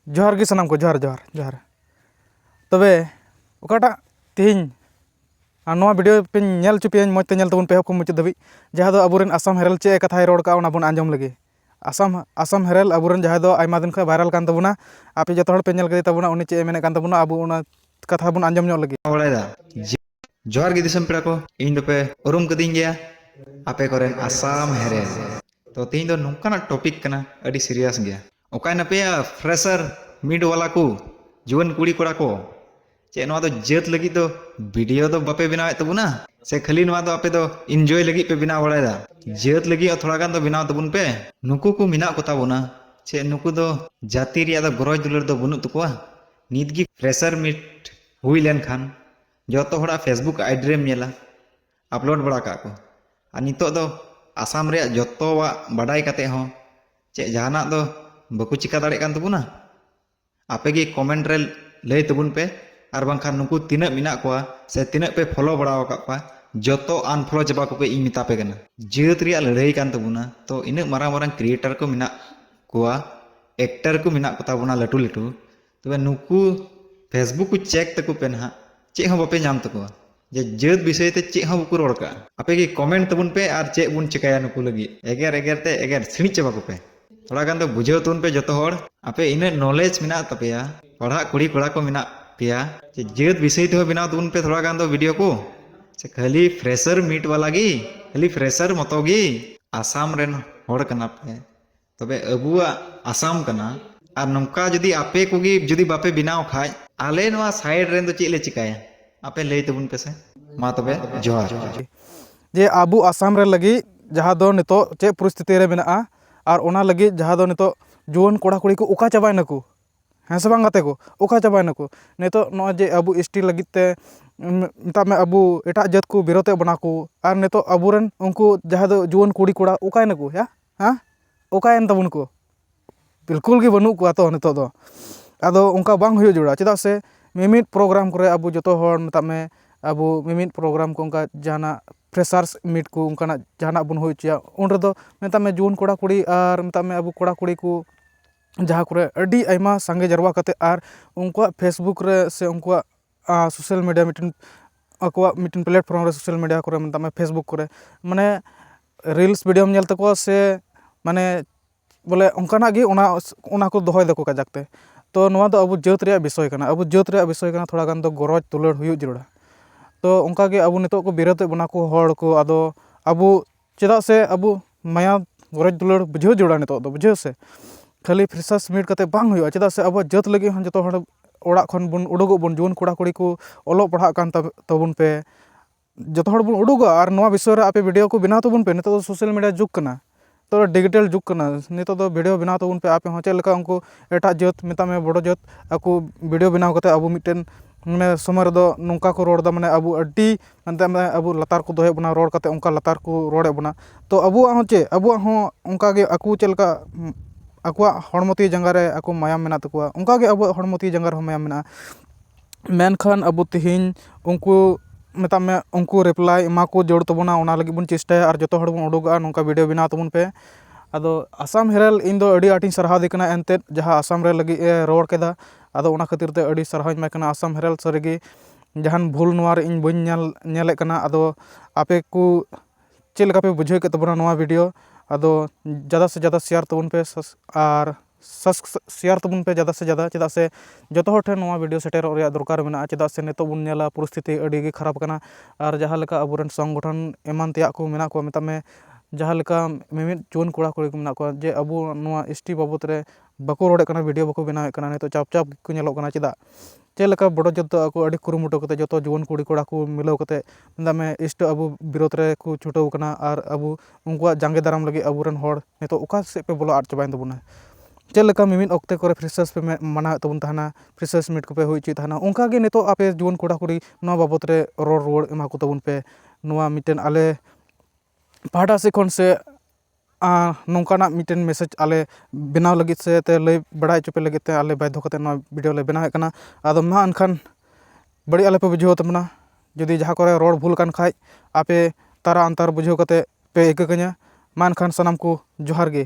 ᱡᱚᱦᱟᱨ ᱜᱮ ᱥᱟᱱᱟᱢ ᱠᱚ ᱡᱚᱦᱟᱨ ᱡᱚᱦᱟᱨ ᱡᱚᱦᱟᱨ ᱛᱚᱵᱮ ᱚᱠᱟᱴᱟᱜ ᱛᱮᱦᱮᱧ ᱟᱨ ᱱᱚᱣᱟ ᱵᱷᱤᱰᱭᱳ ᱯᱮᱧ ᱧᱮᱞ ᱦᱚᱪᱚ ᱯᱮᱭᱟᱹᱧ ᱢᱚᱡᱽ ᱛᱮ ᱧᱮᱞ ᱛᱟᱵᱚᱱ ᱯᱮ ᱮᱦᱚᱵ ᱠᱷᱚᱱ ᱢᱩᱪᱟᱹᱫ ᱫᱷᱟᱹᱵᱤᱡ ᱡᱟᱦᱟᱸ ᱫᱚ ᱟᱵᱚ ᱨᱮᱱ ᱟᱥᱟᱢ ᱦᱮᱨᱟᱞᱰ ᱪᱮᱫ ᱠᱟᱛᱷᱟᱭ ᱨᱚᱲ ᱠᱟᱜᱼᱟ ᱚᱱᱟ ᱵᱚᱱ ᱟᱸᱡᱚᱢ ᱞᱮᱜᱮ ᱟᱥᱟᱢ ᱟᱥᱟᱢ ᱦᱮᱨᱟᱞᱰ ᱟᱵᱚ ᱨᱮᱱ ᱡᱟᱦᱟᱸᱭ ᱫᱚ ᱟᱭᱢᱟ ᱫᱤᱱ ᱠᱷᱚᱱ ᱵᱷᱟᱭᱨᱟᱞ ᱠᱟᱱ ᱛᱟᱵᱚᱱᱟ ᱟᱯᱮ ᱡᱚᱛᱚ ᱦᱚᱲ ᱯᱮ ᱧᱮᱞ ᱠᱮᱫᱮ ᱛᱟᱵᱚᱱᱟ ᱩᱱᱤ ᱪᱮᱫ ᱮ ᱢᱮᱱᱮᱫ ᱠᱟᱱ ᱛᱟᱵᱚᱱᱟ ᱟᱵᱚ ᱚᱱᱟ ᱠᱟᱛᱷᱟ ᱵᱚᱱ ᱟᱸᱡᱚᱢ ᱧᱚᱜ ᱞᱮᱜᱮ ᱵᱟᱲᱟᱭᱮᱫᱟ ᱡᱚᱦᱟᱨ ᱜᱮ ᱫᱤᱥᱚᱢ ᱯᱮᱲᱟ ᱠᱚ ᱤᱧ ᱫᱚᱯᱮ ᱩᱨᱩᱢ ᱠᱟᱹᱫᱤᱧ ᱜᱮᱭᱟ ᱟᱯᱮ ᱠᱚᱨᱮᱱ ᱟᱥᱟᱢ ᱦᱮᱨᱮᱞ ᱛᱚ ᱛᱮᱦᱮᱧ ᱫᱚ ᱱᱚᱝᱠᱟᱱᱟᱜ ᱴᱚᱯᱤᱠ ᱠᱟᱱᱟ ᱟᱹᱰᱤ ᱥᱤᱨᱤᱭᱟᱥ ᱜᱮᱭᱟ ᱚᱠᱟᱭ ᱱᱟᱯᱮᱭᱟ ᱯᱷᱨᱮᱥᱟᱨ ᱢᱤᱰ ᱣᱟᱞᱟ ᱠᱚ ᱡᱩᱣᱟᱹᱱ ᱠᱩᱲᱤ ᱠᱚᱲᱟ ᱠᱚ ᱪᱮᱫ ᱱᱚᱣᱟ ᱫᱚ ᱡᱟᱹᱛ ᱞᱟᱹᱜᱤᱫ ᱫᱚ ᱵᱷᱤᱰᱤᱭᱳ ᱫᱚ ᱵᱟᱯᱮ ᱵᱮᱱᱟᱣᱮᱫ ᱛᱟᱵᱚᱱᱟ ᱥᱮ ᱠᱷᱟᱹᱞᱤ ᱱᱚᱣᱟ ᱫᱚ ᱟᱯᱮ ᱫᱚ ᱤᱱᱡᱚᱭ ᱞᱟᱹᱜᱤᱫ ᱯᱮ ᱵᱮᱱᱟᱣ ᱵᱟᱲᱟᱭᱮᱫᱟ ᱡᱟᱹᱛ ᱞᱟᱹᱜᱤᱫ ᱦᱚᱸ ᱛᱷᱚᱲᱟ ᱜᱟᱱ ᱫᱚ ᱵᱮᱱᱟᱣ ᱛᱟᱵᱚᱱ ᱯᱮ ᱱᱩᱠᱩ ᱠᱚ ᱢᱮᱱᱟᱜ ᱠᱚ ᱛᱟᱵᱚᱱᱟ ᱪᱮ ᱱᱩᱠᱩ ᱫᱚ ᱡᱟᱹᱛᱤ ᱨᱮᱭᱟᱜ ᱫᱚ ᱜᱚᱨᱚᱡᱽ ᱫᱩᱞᱟᱹᱲ ᱫᱚ ᱵᱟᱹᱱᱩᱜ ᱛᱟᱠᱚᱣᱟ ᱱᱤᱛ ᱜᱮ ᱯᱷᱨᱮᱥᱟᱨ ᱢᱤᱴ ᱦᱩᱭ ᱞᱮᱱᱠᱷᱟᱱ ᱡᱚᱛᱚ ᱦᱚᱲᱟᱜ ᱯᱷᱮᱥᱵᱩᱠ ᱟᱭᱰᱤ ᱨᱮᱢ ᱧᱮᱞᱟ ᱟᱯᱞᱳᱰ ᱵᱟᱲᱟ ᱠᱟᱜ ᱠᱚ ᱟᱨ ᱱᱤᱛᱚᱜ ᱫᱚ ᱟᱥᱟᱢ ᱨᱮᱭᱟᱜ ᱡᱚᱛᱚᱣᱟᱜ ᱵᱟᱰᱟᱭ ᱠᱟᱛᱮ ᱦᱚᱸ ᱪᱮᱫ ᱡᱟᱦᱟᱱᱟᱜ ᱫᱚ ᱵᱟᱠᱚ ᱪᱤᱠᱟ ᱫᱟᱲᱮᱜ ᱠᱟᱱ ᱛᱟᱵᱚᱱᱟ ᱟᱯᱮ ᱜᱮ ᱠᱚᱢᱮᱱᱴ ᱨᱮ ᱞᱟᱹᱭ ᱛᱟᱵᱚᱱ ᱯᱮ ᱟᱨ ᱵᱟᱝᱠᱷᱟᱱ ᱱᱩᱠᱩ ᱛᱤᱱᱟᱹᱜ ᱢᱮᱱᱟᱜ ᱠᱚᱣᱟ ᱥᱮ ᱛᱤᱱᱟᱹᱜ ᱯᱮ ᱯᱷᱚᱞᱳ ᱵᱟᱲᱟ ᱟᱠᱟᱫ ᱠᱚᱣᱟ ᱡᱚᱛᱚ ᱟᱱᱯᱷᱚᱞᱳ ᱪᱟᱵᱟ ᱠᱚᱯᱮ ᱤᱧ ᱢᱮᱛᱟ ᱯᱮ ᱠᱟᱱᱟ ᱡᱟᱹᱛ ᱨᱮᱭᱟᱜ ᱞᱟᱹᱲᱦᱟᱹᱭ ᱠᱟᱱ ᱛᱟᱵᱚᱱᱟ ᱛᱚ ᱤᱱᱟᱹᱜ ᱢᱟᱨᱟᱝ ᱢᱟᱨᱟᱝ ᱠᱨᱤᱭᱮᱴᱟᱨ ᱠᱚ ᱢᱮᱱᱟᱜ ᱠᱚᱣᱟ ᱮᱠᱴᱟᱨ ᱠᱚ ᱢᱮᱱᱟᱜ ᱠᱚᱛᱟ ᱵᱚᱱᱟ ᱞᱟᱹᱴᱩ ᱞᱟᱹᱴᱩ ᱛᱚᱵᱮ ᱱᱩᱠᱩ ᱯᱷᱮᱥᱵᱩᱠ ᱠᱚ ᱪᱮᱠ ᱛᱟᱠᱚ ᱯᱮ ᱱᱟᱦᱟᱜ ᱪᱮᱫ ᱦᱚᱸ ᱵᱟᱯᱮ ᱧᱟᱢ ᱛᱟᱠᱚᱣᱟ ᱡᱮ ᱡᱟᱹᱛ ᱵᱤᱥᱚᱭ ᱛᱮ ᱪᱮᱫ ᱦᱚᱸ ᱵᱟᱠᱚ ᱨᱚᱲ ᱠᱟᱜᱼᱟ ᱟᱯᱮ ᱜᱮ ᱠᱚᱢᱮᱱᱴ ᱛᱟᱵᱚᱱ ᱯᱮ ᱟᱨ ᱪᱮᱫ ᱵᱚᱱ ᱪᱮᱠᱟᱭᱟ ᱱᱩᱠᱩ ᱞᱟᱹᱜᱤᱫ ᱮᱜᱮᱨ ᱮᱜᱮᱨ ᱛᱮ ᱮᱜᱮᱨ ᱥᱤᱬᱤᱡ ᱪᱟᱵᱟ ᱠᱚᱯᱮ ᱛᱷᱚᱲᱟ ᱜᱟᱱ ᱫᱚ ᱵᱩᱡᱷᱟᱹᱣ ᱛᱟᱵᱚᱱ ᱯᱮ ᱡᱚᱛᱚ ᱦᱚᱲ ᱟᱯᱮ ᱤᱱᱟᱹ ᱱᱚᱞᱮᱡᱽ ᱢᱮᱱᱟᱜ ᱛᱟᱯᱮᱭᱟ ᱯᱟᱲᱦᱟᱜ ᱠᱩᱲᱤ ᱠᱚᱲᱟ ᱠᱚ ᱢᱮᱱᱟᱜ ᱯᱮᱭᱟ ᱡᱮ ᱡᱟᱹᱛ ᱵᱤᱥᱚᱭ ᱛᱮᱦᱚᱸ ᱵᱮᱱᱟᱣ ᱛᱟᱵᱚᱱ ᱯᱮ ᱛᱷᱚᱲᱟ ᱜᱟᱱ ᱫᱚ ᱵᱷᱤᱰᱤᱭᱳ ᱠᱚ ᱥᱮ ᱠᱷᱟᱹᱞᱤ ᱯᱷᱨᱮᱥᱟᱨ ᱢᱤᱴ ᱵᱟᱞᱟ ᱜᱮ ᱠᱷᱟᱹᱞᱤ ᱯᱷᱨᱮᱥᱟᱨ ᱢᱚᱛᱚ ᱜᱮ ᱟᱥᱟᱢ ᱨᱮᱱ ᱦᱚᱲ ᱠᱟᱱᱟ ᱯᱮ ᱛᱚᱵᱮ ᱟᱵᱚᱣᱟᱜ ᱟᱥᱟᱢ ᱠᱟᱱᱟ ᱟᱨ ᱱᱚᱝᱠᱟ ᱡᱩᱫᱤ ᱟᱯᱮ ᱠᱚᱜᱮ ᱡᱩᱫᱤ ᱵᱟᱯᱮ ᱵᱮᱱᱟᱣ ᱠᱷᱟᱡ ᱟᱞᱮ ᱱᱚᱣᱟ ᱥᱟᱭᱤᱰ ᱨᱮᱱ ᱫᱚ ᱪᱮᱫ ᱞᱮ ᱪᱤᱠᱟᱭᱟ ᱟᱯᱮ ᱞᱟᱹᱭ ᱛᱟᱵᱚᱱ ᱯᱮᱥᱮ ᱢᱟ ᱛᱚᱵᱮ ᱡᱚᱦᱟᱨ ᱡᱮ ᱟᱵᱚ ᱟᱥᱟᱢ ᱨᱮ ᱞᱟᱹᱜᱤᱫ ᱡᱟᱦᱟᱸ ᱫᱚ ᱱᱤᱛᱚᱜ ᱪᱮᱫ ᱯᱚᱨᱤᱥᱛᱷᱤᱛᱤ ᱨᱮ ᱢᱮᱱᱟᱜᱼᱟ ᱟᱨ ᱚᱱᱟ ᱞᱟᱹᱜᱤᱫ ᱡᱟᱦᱟᱸ ᱫᱚ ᱱᱤᱛᱚᱜ ᱡᱩᱣᱟᱹᱱ ᱠᱚᱲᱟ ᱠᱩᱲᱤ ᱠᱚ ᱚᱠᱟ ᱪᱟᱵᱟᱭ ᱱᱟᱠᱚ ᱦᱮᱸ ᱥᱮ ᱵᱟᱝ ᱜᱟᱛᱮ ᱠᱚ ᱚᱠᱟ ᱪᱟᱵᱟᱭ ᱱᱟᱠᱚ ᱱᱤᱛᱚᱜ ᱱᱚᱜᱼᱚᱭ ᱡᱮ ᱟᱵᱚ ᱮᱥ ᱴᱤ ᱞᱟᱹᱜᱤᱫ ᱛᱮ ᱢᱮᱛᱟᱜ ᱢᱮ ᱟᱵᱚ ᱮᱴᱟᱜ ᱡᱟᱹᱛ ᱠᱚ ᱵᱤᱨᱳᱫᱮᱫ ᱵᱚᱱᱟ ᱠᱚ ᱟᱨ ᱱᱤᱛᱚᱜ ᱟᱵᱚ ᱨᱮᱱ ᱩᱱᱠᱩ ᱡᱟᱦᱟᱸ ᱫᱚ ᱡᱩᱣᱟᱹᱱ ᱠᱩᱲᱤ ᱠᱚᱲᱟ ᱚᱠᱟᱭ ᱱᱟᱠᱚ ᱭᱟ ᱦᱮᱸ ᱚᱠᱟᱭᱮᱱ ᱛᱟᱵᱚᱱᱟ ᱠᱚ ᱵᱤᱞᱠᱩᱞ ᱜᱮ ᱵᱟᱹᱱᱩᱜ ᱠᱚᱣᱟ ᱛᱚ ᱱᱤᱛᱚᱜ ᱫᱚ ᱟᱫᱚ ᱚᱱᱠᱟ ᱵᱟᱝ ᱦᱩᱭᱩᱜ ᱡᱟᱹᱨᱩᱲᱟ ᱪᱮᱫᱟᱜ ᱥᱮ ᱢᱤᱢᱤᱫ ᱯᱨᱳᱜᱨᱟᱢ ᱠᱚᱨᱮ ᱟᱵᱚ ᱡᱚᱛᱚ ᱦᱚᱲ ᱢᱮᱛᱟᱜ ᱢᱮ ᱟᱵᱚ ᱢᱤᱢᱤᱫ ᱯᱨᱳᱜᱨᱟᱢ ᱠᱚ ᱚᱱᱠᱟ ᱡᱟᱦᱟᱱᱟᱜ ᱯᱷᱮᱥᱟᱨᱥ ᱢᱤᱴ ᱠᱚ ᱚᱱᱠᱟᱱᱟᱜ ᱡᱟᱦᱟᱱᱟᱜ ᱵᱚᱱ ᱦᱩᱭ ᱦᱚᱪᱚᱭᱟ ᱩᱱ ᱨᱮᱫᱚ ᱢᱮᱛᱟᱜ ᱢᱮ ᱡᱩᱣᱟᱹᱱ ᱠᱚᱲᱟᱼᱠᱩᱲᱤ ᱟᱨ ᱢᱮᱛᱟᱜ ᱢᱮ ᱟᱵᱚ ᱠᱚᱲᱟᱼᱠᱩᱲᱤ ᱠᱚ ᱡᱟᱦᱟᱸ ᱠᱚᱨᱮᱜ ᱟᱹᱰᱤ ᱟᱭᱢᱟ ᱥᱟᱸᱜᱮ ᱡᱟᱨᱣᱟ ᱠᱟᱛᱮᱜ ᱟᱨ ᱩᱱᱠᱩᱣᱟᱜ ᱯᱷᱮᱥᱵᱩᱠ ᱨᱮ ᱥᱮ ᱩᱱᱠᱩᱣᱟᱜ ᱥᱳᱥᱟᱞ ᱢᱤᱰᱤᱭᱟ ᱢᱤᱫᱴᱮᱱ ᱟᱠᱚᱣᱟᱜ ᱢᱤᱫᱴᱮᱱ ᱯᱞᱟᱴᱯᱷᱨᱚᱢ ᱨᱮ ᱥᱳᱥᱟᱞ ᱢᱤᱰᱤᱭᱟ ᱠᱚᱨᱮ ᱢᱮᱛᱟᱜ ᱢᱮ ᱯᱷᱮᱥᱵᱩᱠ ᱠᱚᱨᱮ ᱢᱟᱱᱮ ᱨᱤᱞᱥ ᱵᱷᱤᱰᱭᱳᱢ ᱧᱮᱞ ᱛᱟᱠᱚᱣᱟ ᱥᱮ ᱢᱟᱱᱮ ᱵᱚᱞᱮ ᱚᱱᱠᱟᱱᱟᱜ ᱜᱮ ᱚᱱᱟ ᱚᱱᱟ ᱠᱚ ᱫᱚᱦᱚᱭ ᱫᱟᱠᱚ ᱠᱟᱡᱟᱠ ᱛᱮ ᱛᱳ ᱱᱚᱣᱟ ᱫᱚ ᱟᱵᱚ ᱡᱟᱹᱛ ᱨᱮᱭᱟᱜ ᱵᱤᱥᱚᱭ ᱠᱟᱱᱟ ᱟᱵᱚ ᱡᱟᱹᱛ ᱨᱮᱭᱟᱜ ᱵᱤᱥᱚᱭ ᱠᱟᱱᱟ ᱛᱷᱚᱲᱟ ᱜᱟᱱ ᱫᱚ ᱜᱚᱨᱚᱡᱽ ᱫᱩᱞᱟᱹᱲ ᱦᱩᱭᱩᱜ ᱡᱟᱹᱨᱩᱲᱟ ᱛᱳ ᱚᱱᱠᱟᱜᱮ ᱟᱵᱚ ᱱᱤᱛᱚᱜ ᱠᱚ ᱵᱤᱨᱳᱫ ᱮᱜ ᱵᱚᱱᱟ ᱠᱚ ᱦᱚᱲ ᱠᱚ ᱟᱫᱚ ᱟᱵᱚ ᱪᱮᱫᱟᱜ ᱥᱮ ᱟᱵᱚ ᱢᱟᱭᱟᱢ ᱜᱚᱨᱚᱡᱽ ᱫᱩᱞᱟᱹᱲ ᱵᱩᱡᱷᱟᱹᱣ ᱡᱟᱹᱨᱩᱲᱟ ᱱᱤᱛᱚᱜ ᱫᱚ ᱵᱩᱡᱷᱟᱹᱣ ᱥᱮ ᱠᱷᱟᱹᱞᱤ ᱯᱷᱨᱮᱥᱟᱨ ᱥᱟᱵᱽᱢᱤᱴ ᱠᱟᱛᱮ ᱵᱟᱝ ᱦᱩᱭᱩᱜᱼᱟ ᱪᱮᱫᱟᱜ ᱥᱮ ᱟᱵᱚᱣᱟᱜ ᱡᱟᱹᱛ ᱞᱟᱹᱜᱤᱫ ᱦᱚᱸ ᱡᱚᱛᱚ ᱦᱚᱲ ᱚᱲᱟᱜ ᱠᱷᱚᱱ ᱵᱚᱱ ᱩᱰᱩᱠᱚᱜ ᱵᱚᱱ ᱡᱩᱣᱟᱹᱱ ᱠᱚᱲᱟᱼᱠᱩᱲᱤ ᱠᱚ ᱚᱞᱚᱜ ᱯᱟᱲᱦᱟᱜ ᱠᱟᱱ ᱛᱟᱵᱚᱱ ᱯᱮ ᱡᱚᱛᱚ ᱦᱚᱲ ᱵᱚᱱ ᱩᱰᱩᱠᱚᱜᱼᱟ ᱟᱨ ᱱᱚᱣᱟ ᱵᱤᱥᱚᱭ ᱨᱮ ᱟᱯᱮ ᱵᱷᱤᱰᱭᱳ ᱠᱚ ᱵᱮᱱᱟᱣ ᱛᱟᱵᱚᱱ ᱯᱮ ᱱᱤᱛᱚᱜ ᱫᱚ ᱥᱳᱥᱟᱞ ᱢᱤᱰᱤᱭᱟ ᱡᱩᱜᱽ ᱠᱟᱱᱟ ᱱᱤᱛᱚᱜ ᱫᱚ ᱰᱤᱡᱤᱴᱟᱞ ᱡᱩᱜᱽ ᱠᱟᱱᱟ ᱱᱤᱛᱚᱜ ᱫᱚ ᱵᱷᱤᱰᱭᱳ ᱵᱮᱱᱟᱣ ᱛᱟᱵᱚᱱ ᱯᱮ ᱟᱯᱮ ᱦᱚᱸ ᱪᱮᱫ ᱞᱮᱠᱟ ᱩᱱᱠᱩ ᱮᱴᱟᱜ ᱡᱟᱹᱛ ᱢᱮᱛᱟᱜ ᱢᱮ ᱵᱳᱰᱳ ᱡᱟᱹᱛ ᱟᱠᱚ ᱵᱷᱤᱰᱭᱳ ᱵᱮᱱᱟᱣ ᱠᱟᱛᱮ ᱟᱵᱚ ᱢᱤᱫᱴᱮᱱ ᱢᱟᱱᱮ ᱥᱚᱢᱚᱭ ᱨᱮᱫᱚ ᱱᱚᱝᱠᱟ ᱠᱚ ᱨᱚᱲᱫᱟ ᱢᱟᱱᱮ ᱟᱵᱚ ᱟᱹᱰᱤ ᱦᱟᱱᱛᱮ ᱟᱢᱫᱟ ᱟᱵᱚ ᱞᱟᱛᱟᱨ ᱠᱚ ᱫᱚᱦᱚᱭᱮᱜ ᱵᱚᱱᱟ ᱨᱚᱲ ᱠᱟᱛᱮᱜ ᱚᱱᱠᱟ ᱞᱟᱛᱟᱨ ᱠᱚ ᱨᱚᱲᱮᱜ ᱵᱚᱱᱟ ᱛᱚ ᱟᱵᱚᱣᱟᱜ ᱦᱚᱸ ᱪᱮᱫ ᱟᱵᱚᱣᱟᱜ ᱦᱚᱸ ᱚᱱᱠᱟᱜᱮ ᱟᱠᱚ ᱪᱮᱫ ᱞᱮᱠᱟ ᱟᱠᱚᱣᱟᱜ ᱦᱚᱲᱢᱚ ᱛᱤ ᱡᱟᱸᱜᱟ ᱨᱮ ᱟᱠᱚ ᱢᱟᱭᱟᱢ ᱢᱮᱱᱟᱜ ᱛᱟᱠᱚᱣᱟ ᱚᱱᱠᱟᱜᱮ ᱟᱵᱚᱣᱟᱜ ᱦᱚᱲᱢᱚ ᱛᱤ ᱡᱟᱸᱜᱟ ᱨᱮᱦᱚᱸ ᱢᱟᱭᱟᱢ ᱢᱮᱱᱟᱜᱼᱟ ᱢᱮᱱᱠᱷᱟᱱ ᱟᱵᱚ ᱛᱮᱦᱮᱧ ᱩᱱᱠᱩ ᱢᱮᱛᱟᱜ ᱢᱮ ᱩᱱᱠᱩ ᱨᱤᱯᱞᱟᱭ ᱮᱢᱟ ᱠᱚ ᱡᱟᱹᱨᱩᱲ ᱛᱟᱵᱚᱱᱟ ᱚᱱᱟ ᱞᱟᱹᱜᱤᱫ ᱵᱚᱱ ᱪᱮᱥᱴᱟᱭᱟ ᱟᱨ ᱡᱚᱛᱚ ᱦᱚᱲ ᱵᱚᱱ ᱩᱰᱩᱠᱚᱜᱼᱟ ᱱᱚᱝᱠᱟ ᱵᱷᱤᱰᱭᱳ ᱵᱮᱱᱟᱣ ᱛᱟᱵᱚᱱ ᱯᱮ ᱟᱫᱚ ᱟᱥᱟᱢ ᱦᱮᱨᱟᱞ ᱤᱧ ᱫᱚ ᱟᱹᱰᱤ ᱟᱸᱴᱤᱧ ᱥᱟᱨᱦᱟᱣᱫᱮ ᱠᱟᱱᱟ ᱮᱱᱛᱮᱜ ᱡᱟᱦᱟᱸ ᱟᱥᱟᱢ ᱨᱮ ᱞᱟᱹᱜᱤᱫ ᱮ ᱨᱚᱲ ᱠᱮᱫᱟ ᱟᱫᱚ ᱚᱱᱟ ᱠᱷᱟᱹᱛᱤᱨ ᱛᱮ ᱟᱹᱰᱤ ᱥᱟᱨᱦᱟᱣ ᱤᱧ ᱮᱢᱟᱭ ᱠᱟᱱᱟ ᱟᱥᱟᱢ ᱦᱮᱨᱟᱞ ᱥᱟᱹᱨᱤᱜᱮ ᱡᱟᱦᱟᱱ ᱵᱷᱩᱞ ᱱᱚᱣᱟᱨᱮ ᱤᱧ ᱵᱟᱹᱧ ᱧᱮᱞ ᱧᱮᱞᱮᱫ ᱠᱟᱱᱟ ᱟᱫᱚ ᱟᱯᱮ ᱠᱚ ᱪᱮᱫ ᱞᱮᱠᱟ ᱯᱮ ᱵᱩᱡᱷᱟᱹᱣ ᱠᱮᱫ ᱛᱟᱵᱚᱱᱟ ᱱᱚᱣᱟ ᱵᱷᱤᱰᱭᱳ ᱟᱫᱚ ᱡᱟᱫᱟ ᱥᱮ ᱡᱟᱫᱟ ᱥᱮᱭᱟᱨ ᱛᱟᱵᱚᱱ ᱯᱮ ᱟᱨ ᱥᱮᱭᱟᱨ ᱛᱟᱵᱚᱱ ᱯᱮ ᱡᱟᱫᱟ ᱥᱮ ᱡᱟᱫᱟ ᱪᱮᱫᱟᱜ ᱥᱮ ᱡᱚᱛᱚ ᱦᱚᱲ ᱴᱷᱮᱱ ᱱᱚᱣᱟ ᱵᱷᱤᱰᱭᱳ ᱥᱮᱴᱮᱨᱚᱜ ᱨᱮᱭᱟᱜ ᱫᱚᱨᱠᱟᱨ ᱢᱮᱱᱟᱜᱼᱟ ᱪᱮᱫᱟᱜ ᱥᱮ ᱱᱤᱛᱚᱜ ᱵᱚᱱ ᱧᱮᱞᱟ ᱯᱚᱨᱤᱥᱛᱷᱤᱛᱤ ᱟᱹᱰᱤᱜᱮ ᱠᱷᱟᱨᱟᱯ ᱠᱟᱱᱟ ᱟᱨ ᱡᱟᱦᱟᱸ ᱞᱮᱠᱟ ᱟᱵᱚ ᱨᱮᱱ ᱥᱚᱝᱜᱚᱴᱷᱚᱱ ᱮᱢᱟᱱ ᱛᱮᱭᱟᱜ ᱠᱚ ᱢᱮᱱᱟᱜ ᱠᱚᱣᱟ ᱢᱮᱛᱟᱜ ᱢᱮ ᱡᱟᱦᱟᱸ ᱞᱮᱠᱟ ᱢᱤᱢᱤᱫ ᱡᱩᱣᱟᱹᱱ ᱠᱚᱲᱟᱼᱠᱩᱲᱤ ᱠᱚ ᱢᱮᱱᱟᱜ ᱠᱚᱣᱟ ᱡᱮ ᱟᱵᱚ ᱱᱚᱣᱟ ᱮᱥ ᱴᱤ ᱵᱟᱵᱚᱫ ᱨᱮ ᱵᱟᱠᱚ ᱨᱚᱲᱮᱫ ᱠᱟᱱᱟ ᱵᱷᱤᱰᱭᱳ ᱵᱟᱠᱚ ᱵᱮᱱᱟᱣᱮᱫ ᱠᱟᱱᱟ ᱱᱤᱛᱚᱜ ᱪᱟᱯ ᱪᱟᱯ ᱜᱮᱠᱚ ᱧᱮᱞᱚᱜ ᱠᱟᱱᱟ ᱪᱮᱫᱟᱜ ᱪᱮᱫ ᱞᱮᱠᱟ ᱵᱚᱰᱚ ᱡᱟᱹᱛ ᱫᱚ ᱟᱠᱚ ᱟᱹᱰᱤ ᱠᱩᱨᱩᱢᱩᱴᱩ ᱠᱟᱛᱮᱫ ᱡᱚᱛᱚ ᱡᱩᱣᱟᱹᱱ ᱠᱩᱲᱤ ᱠᱚᱲᱟ ᱠᱚ ᱢᱤᱞᱟᱹᱣ ᱠᱟᱛᱮᱫ ᱢᱮᱛᱟᱜ ᱢᱮ ᱮᱥᱴᱤ ᱟᱵᱚ ᱵᱤᱨᱳᱫᱷ ᱨᱮᱠᱚ ᱪᱷᱩᱴᱟᱹᱣ ᱠᱟᱱᱟ ᱟᱨ ᱟᱵᱚ ᱩᱱᱠᱩᱣᱟᱜ ᱡᱟᱸᱜᱮ ᱫᱟᱨᱟᱢ ᱞᱟᱹᱜᱤᱫ ᱟᱵᱚ ᱨᱮᱱ ᱦᱚᱲ ᱱᱤᱛᱚᱜ ᱚᱠᱟ ᱥᱮᱫ ᱯᱮ ᱵᱚᱞᱚ ᱟᱫ ᱪᱟᱵᱟᱭᱮᱱ ᱛᱟᱵᱚᱱᱟ ᱪᱮᱫ ᱞᱮᱠᱟ ᱢᱤᱢᱤᱫ ᱚᱠᱛᱮ ᱠᱚᱨᱮᱜ ᱯᱷᱮᱥᱮᱥ ᱯᱮ ᱢᱟᱱᱟᱣᱮᱫ ᱛᱟᱵᱚᱱ ᱛᱟᱦᱮᱱᱟ ᱯᱷᱮᱥᱮᱥ ᱢᱤᱴ ᱠᱚᱯᱮ ᱦᱩᱭ ᱦᱚᱪᱚᱭᱮᱫ ᱛᱟᱦᱮᱱᱟ ᱚᱱᱠᱟᱜᱮ ᱱᱤᱛᱚᱜ ᱟᱯᱮ ᱡᱩᱣᱟᱹᱱ ᱠᱚᱲᱟᱼᱠᱩᱲᱤ ᱱᱚᱣᱟ ᱵᱟᱵᱚᱫ ᱨᱮ ᱨᱚᱲ ᱨᱩᱣᱟᱹᱲ ᱮᱢᱟ ᱠᱚ ᱛᱟᱵᱚᱱ ᱯᱮ ᱱᱚᱣᱟ ᱢᱤᱫᱴᱮᱱ ᱟᱞᱮ ᱯᱟᱦᱴᱟ ᱥᱮᱫ ᱠᱷᱚᱱ ᱥᱮ ᱱᱚᱝᱠᱟᱱᱟᱜ ᱢᱤᱫᱴᱮᱱ ᱢᱮᱥᱮᱡᱽ ᱟᱞᱮ ᱵᱮᱱᱟᱣ ᱞᱟᱹᱜᱤᱫ ᱥᱮ ᱞᱟᱹᱭ ᱵᱟᱲᱟᱭ ᱦᱚᱪᱚ ᱯᱮ ᱞᱟᱹᱜᱤᱫ ᱛᱮ ᱟᱞᱮ ᱵᱟᱫᱽᱫᱷᱚ ᱠᱟᱛᱮᱫ ᱱᱚᱣᱟ ᱵᱷᱤᱰᱭᱳ ᱞᱮ ᱵᱮᱱᱟᱣᱮᱫ ᱠᱟᱱᱟ ᱟᱫᱚ ᱢᱟ ᱮᱱᱠᱷᱟᱱ ᱵᱟᱹᱲᱤᱡ ᱟᱞᱚᱯᱮ ᱵᱩᱡᱷᱟᱹᱣ ᱛᱟᱵᱚᱱᱟ ᱡᱩᱫᱤ ᱡᱟᱦᱟᱸ ᱠᱚᱨᱮᱜ ᱨᱚᱲ ᱵᱷᱩᱞ ᱟᱠᱟᱱ ᱠᱷᱟᱡ ᱟᱯᱮ ᱛᱟᱨᱟ ᱚᱱᱛᱟᱨ ᱵᱩᱡᱷᱟᱹᱣ ᱠᱟᱛᱮᱫ ᱯᱮ ᱤᱠᱟᱹ ᱠᱟᱹᱧᱟ ᱢᱟ ᱮᱱᱠᱷᱟᱱ ᱥᱟᱱᱟᱢ ᱠᱚ ᱡᱚᱦᱟᱨ ᱜᱮ